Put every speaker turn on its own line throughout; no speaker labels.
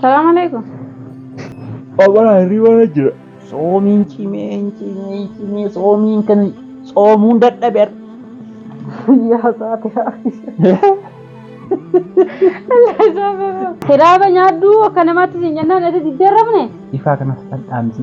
Salaam alaikum.
Abara hirriba jira. Soomiin cimee hin cimee hin cimee soomiin kan soomuun dadhabe har'a.
Yaa saate Hiraaba nyaaddu akka namaatti siin jennaan ati diddarrabne. Ifaa kanas
dhadhaamsi.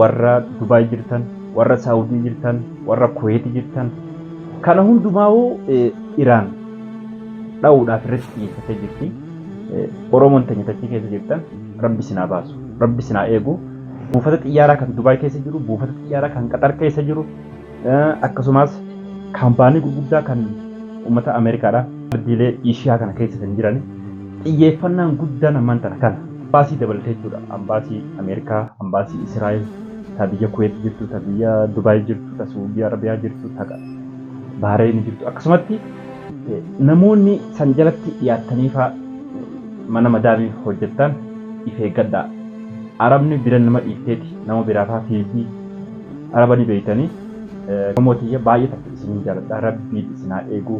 warra Dubaay jirtan, warra Saawudii jirtan, warra Kuweeti jirtan kana hundumaa'uu Iraan dha'uudhaaf irratti xiyyeeffattee jirti. Oromoon teenya tachii keessa jirtan rabbi sinaa baasu, rabbi sinaa eegu. Buufata xiyyaaraa kan Dubaay keessa jiru, buufata xiyyaaraa kan Qaxar keessa jiru, Akkasumas kaampaanii gurguddaa kan uummata Ameerikaadha. Ardiilee Eeshiyaa kana keessa kan jiran xiyyeeffannaan guddaan ammaan tana kana. Ambaasii dabalatee jechuudha. Ambaasii Ameerikaa, ambaasii Israa'el, ta biyya Kuweet jirtu, ta biyya Dubaay jirtu, ta Suudii Arabiyaa jirtu, ta Bahareen jirtu akkasumatti namoonni san jalatti dhiyaattaniifaa mana madaamii hojjettan if eeggadhaa. Arabni bira nama dhiifteeti nama biraafaa fiigdi. Araba ni beeytani Oromoo tiyya baay'ee takka isinin jaaladha rabbiin isin haa eegu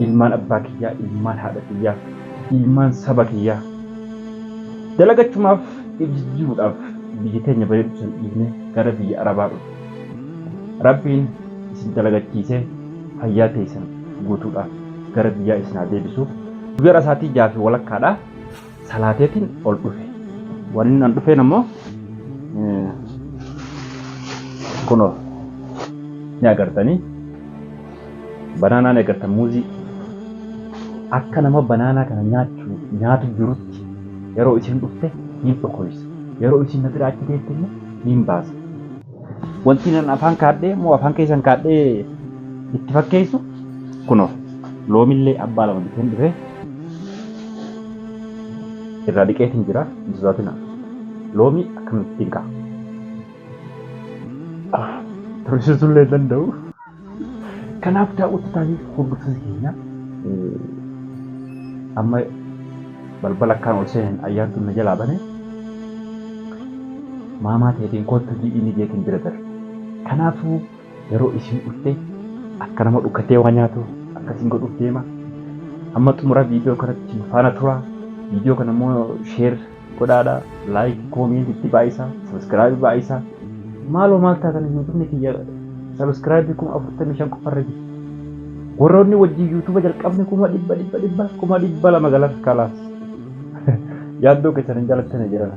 ilmaan abbaa kiyyaa ilmaan haadha kiyyaa ilmaan saba kiyyaa dalagachumaaf if jijjiiruudhaaf biyya teenya bareedu san dhiifne gara biyya arabaa dhufne rabbiin isin dalagachiisee fayyaa teeysan guutuudhaan gara biyyaa isin haa deebisu. Guyyaa har'a sa'aatii jaha fi walakkaadha. salaateetiin ol dhufe. Wanni an dhufeen ammoo kunoo ni agartanii banaanaa ni agartan muuzii akka nama banaanaa kana nyaachuu nyaatu jirutti yeroo isiin dhufte niin dhokoysa yeroo isiin na bira achi deemte immoo niin baasa Wanti nan afaan kaadhee moo afaan keessan kaadhee itti fakkeessu kunoo loomillee abbaa lama biteen dhufee irraa dhiqeetiin jira hin sodaatina. Loomii akkamittiin ka'a? Tursiisuullee hin danda'u. Kanaaf daawwattotaa fi hordoftoota keenya amma balbala akkaan ol seeneen ayyaantuun na jalaa bane maamaa teetiin koottu ji'i inni jeetiin bira darbe. Kanaafuu yeroo isin dhufte akka nama dhukkatee waa nyaatu akkasiin godhuuf deema. Amma xumura viidiyoo kanatti nu faana tura. Viidiyoo kana immoo sheer godhaadha like comment itti baay'isa subscribe baay'isa maaloo maal taatan youtubni kiyya subscribe kuma afurtamii shan qofarra jiru warroonni wajjin yuutuba jalqabne kuma dhibba dhibba dhibba kuma dhibba lama galan kalaas yaaddoo keessan hin jalattane jedhana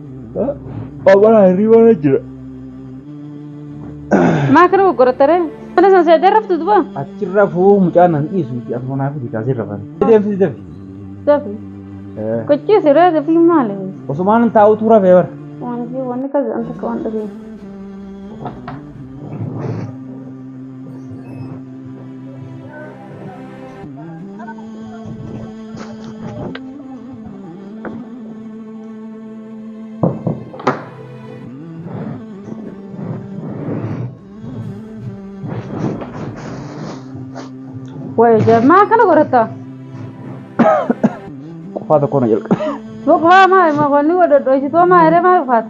Obbolaa
hirriba na jira.
Maa kana goggorattare? Mana sana seetee raftu duba? Achirra fuu mucaan
nan dhiisu itti asuma naaf itti kaasee rafan. Deemsi dafi. Dafi.
Gochii siree dafi maali? Osumaan hin taa'utu
rafee bara. Wanti wanni kaza
anta kawan dafi. Wayo jamaa kana godhatta.
Qofaa tokko na jalqabe. Boqlaa maa ima
qonni godhadhu isitoo maa hiree maa dhufaata.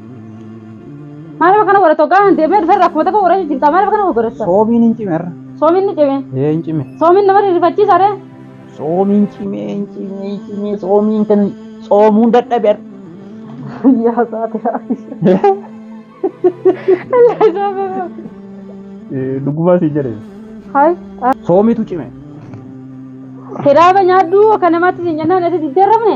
Maaliif kana godhatu kaan deemee dhufee rakkuma tokko godhachuu jirta maaliif kana godhatu? Soomiin hin cime irra.
Soomiin ni cime. Ee
hin cime. Soomiin nama
rifachiisa
ree. Soomiin
cime hin cime hin cime soomiin kan soomuun dadhabe irra.
Yaa saatira. Illee
soomee. Dhugumaa si jedhe. Hai.
Soomitu cime. Kiraaba nyaadhu akka namaatti si nyannaan ati diddeerramne.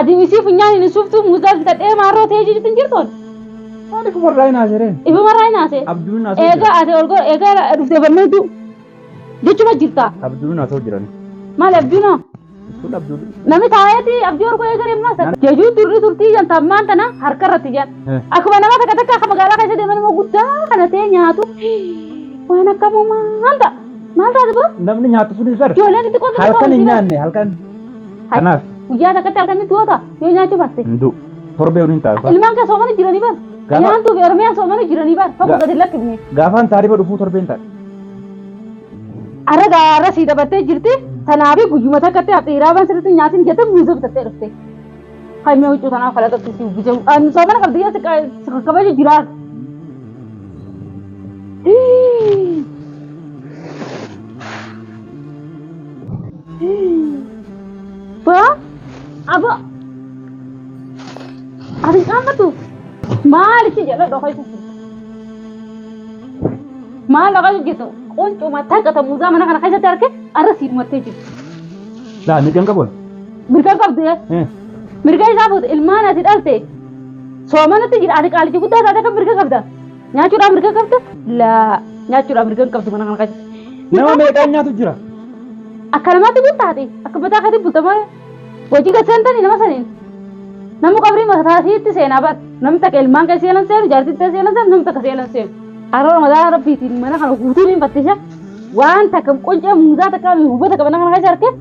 Adiin
isii funyaan hin suuftuu muuzaa bitadhee maarroo ta'ee jijitti hin jirtoon. Waan ifu
marraa hin haasereen. Ifu marraa hin haasee.
Abduun haasoo jira. Eegaa ati
ol gora eegaa
dhuftee barmeetu jechuma jirtaa. Abduun haasoo jiran.
Maal abduunoo?
Kun abduun.
Nami taa'eeti
abdii ol gora eegaree maasa. Jajuu turri turtii jan tammaan tana harka irratti jan. Akkuma nama takka takka akka magaalaa keessa deeman immoo guddaa kana ta'e nyaatu. Waan akkamuu maal ta'a? Maal taate boo? Namni nyaatu sun hin sar.
Ijoolleen itti qotu. Halkan hin
nyaanne halkan.
Kanaaf Guyyaa takkatti
akkamitti goota yoo nyaachuu baatte. hin du'u. Torbee
waliin taasisaa. Ilmaan kee soomana jiranii bar.
Gaafa- Nyaantuu fi Oromiyaa soomana jiranii bar. Tokko Ga- gadi lakkifne. Gaafaan taarifa dhufuu
torbeen ta'a.
Arra gaara sii dabattee jirti. Tanaafi guyyuma takkatti dhiiraa waan sirriitti nyaatin jettee miizoo bitattee dhufte. Haimee huccuu tanaa falaxa tuutii uwwisee ani soomana qabdi yoo xiqqaa sirra kabaja jiraatu. Ba aba ati caammatu maal itti jedha dhoka isa maal dhoka jirtu quncuma taqa ta muuzaa mana kana keessatti arge arra siidhumattee jirtu. Laa
miidhaan qabu. Mirga qabdu
yaa. Hmm. Mirga isaa fuute ilmaan ati dhalte. Soomanatti jira ati qaalichi guddaa taate kan mirga qabda. Nyaachuudhaan mirga qabda. Laa nyaachuudhaan mirga hin qabdu mana kana qabda. Nama meeqaan nyaatu jira?
Akka
namaatti kun taate akka mataa keetiin bultamaa hojii gad seentanii nama saniin. Nama qabrii mataa siitti seenaa bar. Namni takka ilmaan kee seenan seenu jaartiin ta'e seenan seenu namni takka seenan seenu. Haroo mataa rabbiitiin mana kana guutuu ni fattisha. Waan takka quncee muudaa takka hubata qabana kana keessa harkee.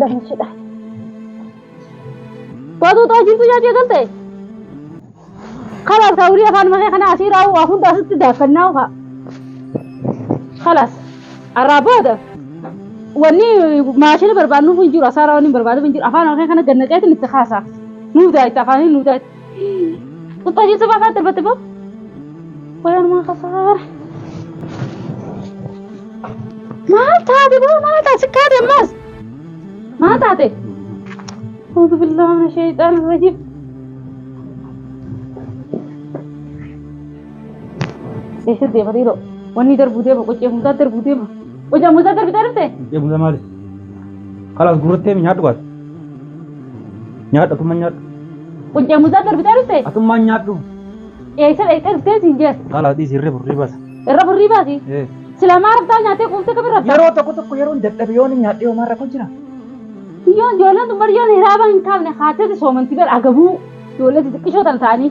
Lammichidha. Waatuu ta'aa jirtu nyaachuu eegalte. Kalaas kaa ulii afaan makee kana asii raawuu waa hunda asitti daakkannaa ukaa. Kalaas arraa booda wanni maashina barbaadnuuf hin jiru asaara wanni barbaadnuuf hin jiru afaan makee kana gannaqeetiin itti kaasaa. Nuuf daa'itti afaaniin nuuf daa'itti. Kuttaa jechuun baafaa darbatti boo. Wayaan maa kasaara. Maal taate boo maal taate sikkaa deemmaas. Maal taate? Uuzu billaa mana sheeyxaan rajib. Eessa deema dhiiroo? Wanni darbuu deema qocee mucaa darbuu deema. Qocee mucaa darbitee dhuftee? Deemuusa maali?
Kalaas gurrattee mi nyaadhu kaas. Nyaadhu atumma nyaadhu. Quncee muuzaa
darbitee dhufte? Atummaan nyaadhu.
Eessa dhaqxee
dhuftee siin jees? Haala dhiisi irra burrii
baasa. Irra burrii baasi.
Ee. Silaa maa
raftaa nyaattee
quuftee kam irra Yeroo tokko tokko yeroon
dadhabe yoon hin nyaadhee homaa rakkoo jira. Yoo
ijoolleen tun bari yoon hiraaba hin kaafne haatee soomanti bar agabuu. Ijoollee xixiqqishoo tan ta'anii.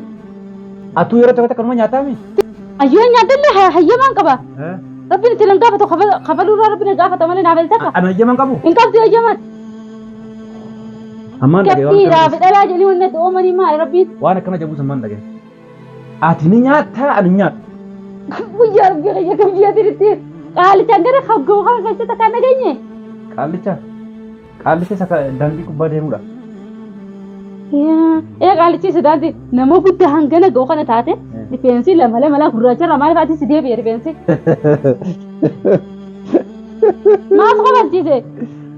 Atuu
yeroo tokko tokko numa nyaataami. Ayyoo nyaadhallee
ha- hayyamaan qaba. Rabbiin itti
nan gaafatu
kafa- kafaluu irraa rabbiin na gaafata malee naaf eltaka. Ana ijjaman qabu. Hin qabdu
hayyamaan. Ammaan dhaga'e waan Gabbii akkana irraa fedhalaa jedhanii
wanna do'oomanii maali rabbiin? waan akkana jabuus ammaan
dhaga'e. Ati ni nyaattaa ani hin nyaadhu. Guyyaa
rabbii kiyya kam ji'a diritti qaalichaan gara haggoo kana keessatti kan dhageenye. Qaallicha qaallicha
isa ka- daandii gubbaa deemudha.
Ee qaalichi sodaanti nama guddaa hangana ga'u kana taate rifeensi lama lama laa gurraacha irraa maaliif ati si deebi'e rifeensi? Maaf kabachiise?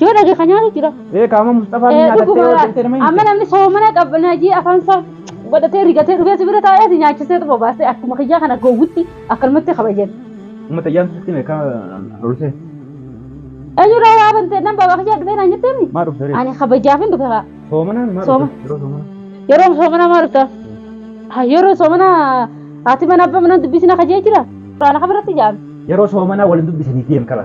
Yoo dhageeffa nyaatu
jira. Ee kaama Musxafaa Eh,
nyaatattee dhuguma yoo jettee nama hin amma namni soomana
qab- najii afaan isaa godhatee rigatee dhugee si bira taa'ee si nyaachisee tu bobaasee akkuma kiyyaa kana gowwutti akkanumatti kabajan. Uummata iyyaan sitti
mee kaa olsee.
Eenyurraa waa bantee nan babaa kiyyaa dhufee naan jetteen Maa dhufte ree? ani kabajaaf
hin dhufe kaa.
Soomanaan maa Sooma.
dhufte?
Yeroo
soomana. Yeroo soomana
maa dhufta? Ha, Yeroo soomana haati mana abbaa mana dubbisina kajee jira. Quraana kabirratti jaame. Yeroo soomanaa waliin
dubbisanii deem qaba.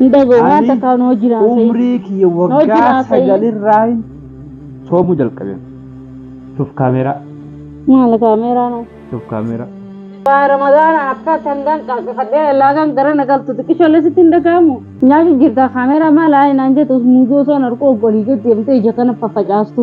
Hin dhaga'u
waan Ani takkaa noo jiraa umrii sayyidii. kiyya Noo waggaa
jiraa sayyidii. sagalirraa hin soomuu jalqabe. Shuf kaameeraa, Maal
kaameeraa noo. shuf kaameeraa.
Waa ramadaana
akka tangan qaqqafadhee laagaan gara na galtu xiqqishoollee sitti hin dhaga'amu. Nyaatu jirta kaameeraa maal haa naan jettu muuzoo osoo narqoo golii gad deemtee ija kana faffacaastu.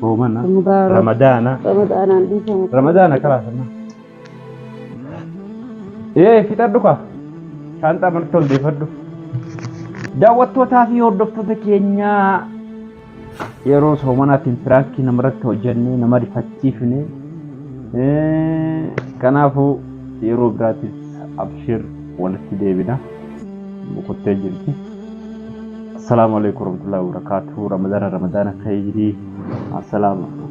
Soomana. Ramadaana.
Ramadaana.
Ramadaanaan dhiifama. Ramadaana
karaa sana. Ee fixadhu kaa. Shaanxaa marti ol deefadhu.
Daawwattootaa fi hordoftoota keenyaa yeroo soomanaatiin piraankii namarratti hojjannee nama rifachiifne. Eh, Kanaafuu yeroo biraatiif abshir walitti deebina. boqottee jirti. Assalaamu alaikum warahmatullahi wabarakatuh. Ramadana Ramadana khayrii. Assalaamu alaikum.